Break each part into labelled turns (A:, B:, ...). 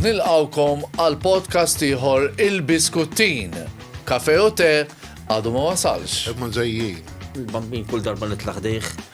A: nilqawkom għal podcast ieħor il-Biskuttin. Kafe u te għadu ma wasalx. Ma ġejjin. Il-bambin kull darba nitlaq dejh.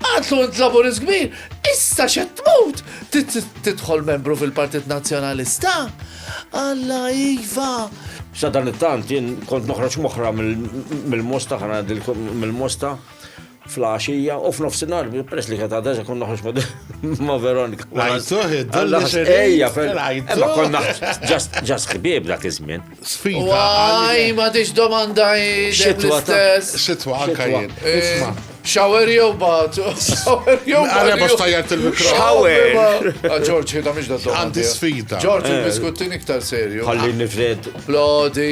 A: Għadlu int laburist kbir, issa xed tmut tidħol membru fil-Partit Nazzjonalista. Alla iva. Sa dan it-tant jien kont noħroġ moħra mill-mosta ħana mill-mosta fl-axija u f'nofsinhar peress li kata għadha kun noħroġ ma' Veronika. Ejja, ma konna ġas ħbieb dak iż-żmien. Sfida. Għaj, ma tix domanda xitwa stess. Xitwa, anka jien. Isma. Shower jew bat. Shower jew bat. Għale box tajjat il-mikro. Shower. Ġorġ, jida miex da domanda. Għandi sfida. Ġorġ, il-biskuttin eh. iktar serju. Għalli nifred. Plodi.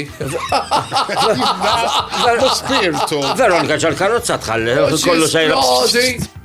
A: Spirtu. Veronika ġal-karozza tħalli. Kollu sejra. Plodi.